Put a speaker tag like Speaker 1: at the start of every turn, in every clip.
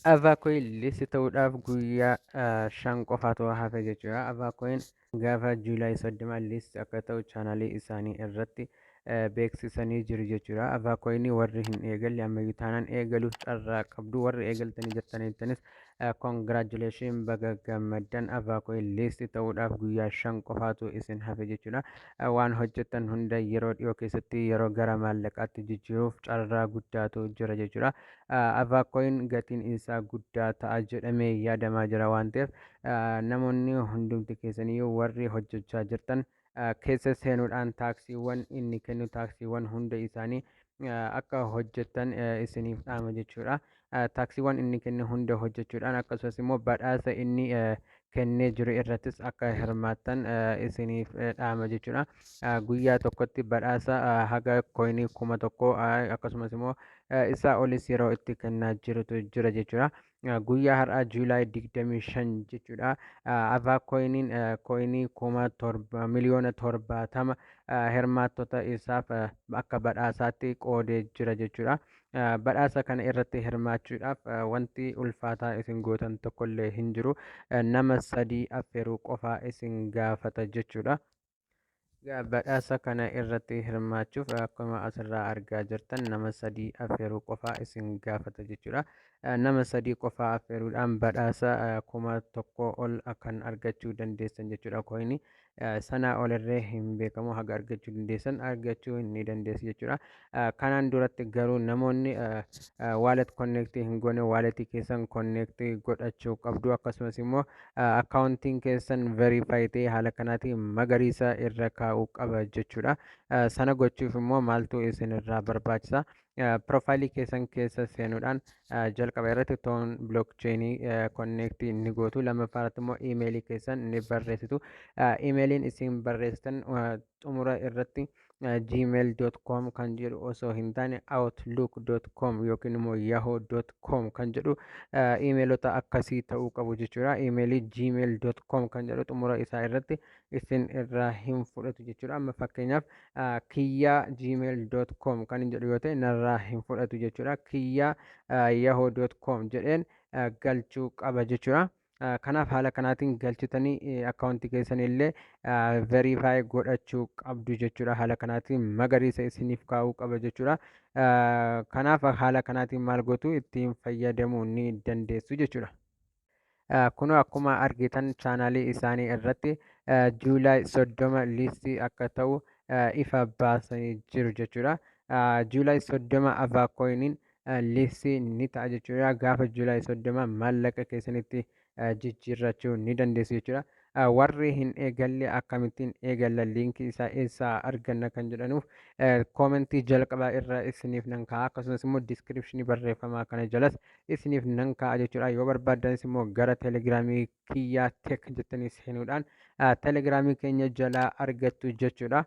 Speaker 1: Avaakoin listi ta'uudhaaf guyyaa ah, shan qofaatu hafe jechuudha. Avaakoin gaafa Juulaay 30 listi akka ta'u chaanaalii isaanii irratti eh, beeksisanii jiru jechuudha. Avaakoin warri hin eegalle ammayyuu taanaan eegaluuf carraa qabdu. Warri eegaltanii jirtanittanis congratulation baga gammaddan Avaakoin listi ta'uudhaaf guyyaa shan qofaatu isin hafe jechuudha. Eh, Waan hojjettan hunda yeroo dhiyoo keessatti yeroo gara maallaqaatti jijjiiruuf carraa guddaatu jira jechuudha. Avacoin gatiin isaa guddaa ta'a jedhamee yaadamaa jira waan ta'eef namoonni hundumti keessaniyyuu warri hojjechaa jirtan keessa seenuudhaan taaksiiwwan inni kennu taaksiiwwan hunda isaanii akka hojjettan isiniif dhaama jechuudha. Taaksiiwwan inni kennu hunda hojjechuudhaan akkasumas immoo badhaasa inni kennee jiru irrattis akka hirmaattan isiniif dhaama jechuudha. Guyyaa tokkotti badhaasa haga koinii kuma tokko akkasumas immoo isaa olis yeroo itti kennaa jirutu jira jechuudha. Guyyaa har'aa Juulaay 25 jechuudha. Avaa koiniin koinii kuma torba miliyoona torbaatama hirmaattota isaaf akka badhaasaatti qoodee jira jechuudha. Ah, badhaasa kana irratti hirmaachuudhaaf ah, wanti ulfaataa isin gootan tokkollee hin jiru Ah, nama sadii affeeruu qofaa isin gaafata jechuudha Egaa badhaasa kana irratti hirmaachuuf ah, akkuma asirraa argaa jirtan nama sadii affeeruu qofaa isin gaafata jechuudha Ah, nama sadii qofaa affeeruudhaan badhaasa ah, kuma tokko ol ah, kan argachuu dandeessan jechuudha kooyinii sanaa ol irree hin beekamu haga argachuu dandeessan argachuu ni dandeessu jechuudha. Kanaan duratti garuu namoonni wallet connect hin goone wallet keessan connect godhachuu qabdu akkasumas immoo accounting keessan verify ta'e haala kanaatiin magariisa irra kaa'uu qaba jechuudha. Sana gochuuf immoo maaltu isin irraa barbaachisa? piroofaayilii keessan keessa seenuudhaan jalqaba irratti toon bilookcheenii konneektii ni gootu lammaffaa irratti immoo iimeelii keessan ni barreessitu iimeeliin isin barreessitan xumura irratti gmail.com kan jedhu osoo hin taane outlook.com yookiin immoo yahoo.com kan jedhu iimeelota akkasii ta'uu qabu jechuudha iimeelii gmail.com kan jedhu xumura isaa irratti isin irraa hin fudhatu jechuudha. Amma fakkeenyaaf kiyyaa gmail.com kan hin jedhu yoo ta'e narraa hin fudhatu jechuudha. Kiyyaa yahoo.com jedheen galchuu qaba jechuudha. Kanaaf haala kanaatiin galchitanii akkaawuntii keessan illee veriifaayi godhachuu qabdu jechuudha. Haala kanaatiin magariisa isiniif kaa'uu qaba jechuudha. Kanaaf haala kanaatiin maal gootu ittiin fayyadamuu ni dandeessu jechuudha. Kunoo akkuma argitan chaanaalii isaanii irratti Juulaay 30 liistii akka ta'u ifa baasanii jiru jechuudha. Juulaay 30 Avaakoiniin liistii ni ta'a jechuudha. Gaafa Juulaay 30 maallaqa keessanitti jijjiirrachuu ni dandeessu jechuudha. warri hin eegalle akkamittiin eegalla liinkii isaa eessaa arganna kan jedhanuuf koomentii jalqabaa irra isiniif nan kaa'a akkasumas immoo diskiripshinii barreeffamaa kana jalas isiniif nan kaa'a jechuudha yoo barbaaddanis immoo gara telegiraamii kiyyaa tek jettanii seenuudhaan telegiraamii keenya jalaa argattu jechuudha.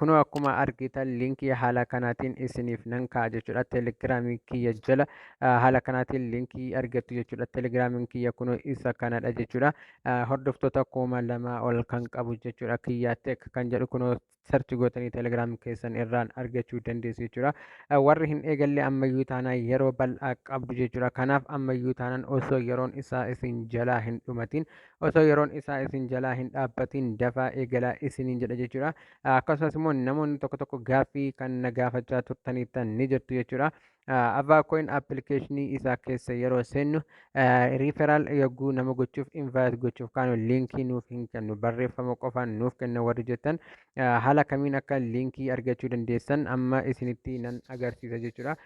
Speaker 1: kunoo akkuma argitan linkii haala kanaatiin isiniif nan ka'a jechuudha telegiraamii kiyya jala haala kanaatiin linkii argattu jechuudha telegiraamiin kiyya kunoo isa kanadha jechuudha hordoftoota kuma lama ol kan qabu jechuudha kiyya tek kan jedhu kunoo sarchi gootanii telegiraam keessan irraan argachuu dandeessu jechuudha warri hin eegalle ammayyuu taanaa yeroo bal'aa qabdu jechuudha kanaaf ammayyuu taanaan osoo yeroon isaa isin jalaa hin dhumatiin osoo yeroon isaa isin jalaa hin dhaabbatiin dafaa eegalaa isiniin jedha jechuudha. Akkasumas immoo namoonni tokko tokko gaaffii kan na gaafachaa turtaniittan ni jirtu jechuudha. Avaa coin appilikeeshinii isaa keessa yeroo seennu riiferaal yogguu nama gochuuf invite gochuuf kaanu liinkii nuuf hin kennu barreeffama qofaan nuuf kenna warri jettan haala kamiin akka liinkii argachuu dandeessan amma isinitti nan agarsiisa jechuudha.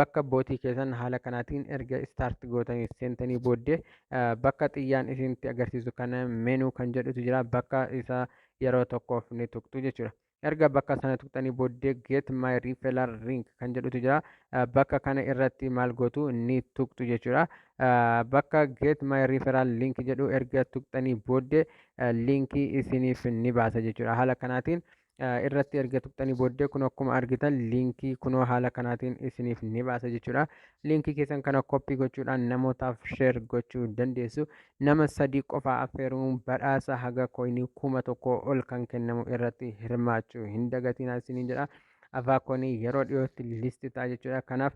Speaker 1: Bakka bootii keessan haala kanaatiin erga start gootanii seentanii booddee bakka xiyyaan isinitti agarsiisu kana menu kan jedhutu jira bakka isa yeroo tokkoof ni tuqxu jechuudha erga bakka sana tuqxanii booddee get my referral link kan jedhutu jira bakka kana irratti maal gootu ni tuqxu jechuudha bakka get my referral link jedhu erga tuqxanii booddee liinkii isiniif ni baasa jechuudha haala kanaatiin irratti erga tuqxanii booddee kun akkuma argitan liinkii kunoo haala kanaatiin isiniif ni baasa jechuudha. Liinkii keessan kana koppii gochuudhaan namootaaf sheer gochuu dandeessu. Nama sadii qofaa affeeruun badhaasa haga koinii kuma tokko ol kan kennamu irratti hirmaachuu hin dagatinaa isiniin jedha. Afaa koinii yeroo dhiyootti listi ta'a jechuudha. Kanaaf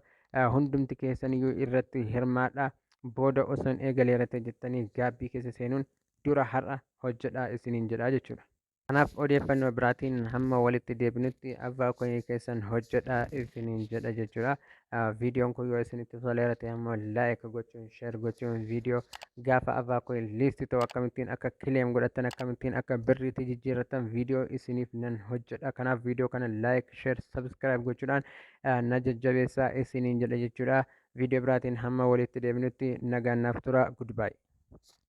Speaker 1: hundumti keessaniyyuu irratti hirmaadha. Booda osoon eegaleera ta'e jettanii gaabbii keessa seenuun dura har'a hojjedhaa isiniin jedha jechuudha. Kanaaf odeeffannoo biraatiin hamma walitti deebinutti abbaa koyii keessan hojjedhaa isiniin jedha jechuudha. Viidiyoon kun yoo isinitti toleera ta'e ammoo laayik gochuun sheer gochuun viidiyoo gaafa abbaa koyii liisti ta'u akkamittiin akka kileem godhattan akkamittiin akka birriitti jijjiirrattan viidiyoo isiniif nan hojjedha. Kanaaf viidiyoo kana laayik sheer sabskiraayib gochuudhaan na jajjabeessaa isiniin jedha jechuudha. Viidiyoo biraatiin hamma walitti deebinutti nagaan naaf tura. Goodbye.